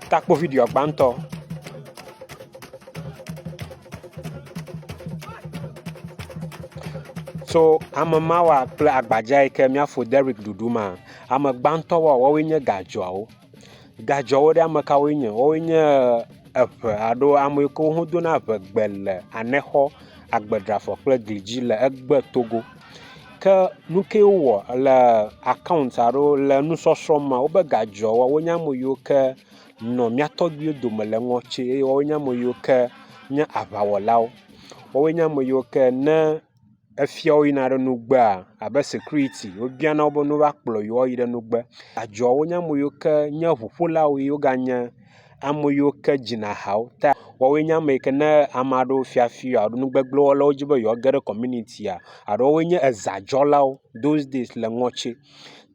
takpo video gbãtɔ. Tso ame mawa kple agbadza yi ke míafɔ Derick ɖuɖu ma, ame gbãtɔ wa woawoe nye gadzɔawo. Gadzɔawo ɖe ame kawoe nye? Woawoe nye eŋe alo ame yi ke wodona eŋegbe le anexɔ, agbeɖrafɔ kple gli dzi le egbetogo. Ke nuke wowɔ le akaɔnt alo le nusɔsrɔ̃ me wobe ga dzɔ woa wonye ame yiwo ke nɔ mía tɔgbuiwo dome le ŋɔti eye woa wonye ame yiwo ke nye aŋawɔlawo. Woa wonye ame yiwo ke ne efiawo yina ɖe nugbea abe sikuriti wobiana wo be ne woakplɔ yewo ayi ɖe nugbe. Adzɔa wonye ame yiwo ke nye ŋuƒolawo ye woganye. ame yiwo ke dzina ha wo ta. Woawoe nye ame yi ke ne ame aɖewo fia fi wo alo nu gbegble wɔm le wo dzi be yewoage ɖe kɔminitia alo woawoe nye ezãdzɔlawo those days le ŋɔtse.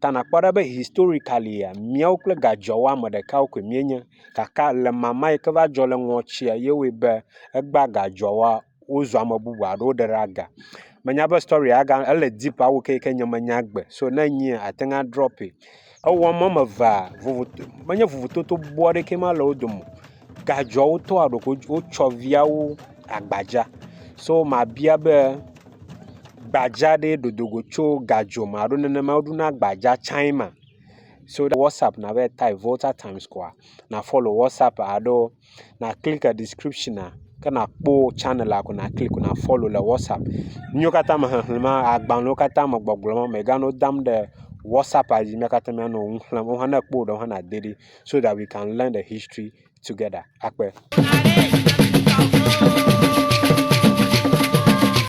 Ta nakpɔ ɖa be historikalia míawo kple gadzɔawo ame ɖeka koe míenye gake le mama yi ke va dzɔ le ŋɔtsia ye wɔe be egba gadzɔawoa. wozua ame bubu alo woɖe ɖe aga. Menya be storia aga ele deep awu keke nye menya gbe so ne enye ate ŋu adrɔpɛ. Ewɔm wɔme evea vovoto menye vovototo bɔbɔ aɖeke ma le wo dome o. Gadzɔa wotɔ aɖo ko wotsɔ viawo agbadza. So mabia be gbadza ɖe dodo go tso gadzɔ me alo nenema woɖona gbadza tsae ma. So ɖe WhatsApp nava yi type Volta Times koa na follow WhatsApp alo na klik ɖiskripshiona ke nàkpɔ tsɛnɛl ko naklik na fɔlo le whatsapp. Nu yiwo katã me xexlẽm agbalẽ yiwo katã me gbɔgblɔm mèganɔ dam ɖe whatsapp dzi mía katã míanɔ nu xlẽm wo hã ne èkpɔ wo ɖewo hã nàde ɖi so dat wi kan lɛn de histri tugɛda akpe.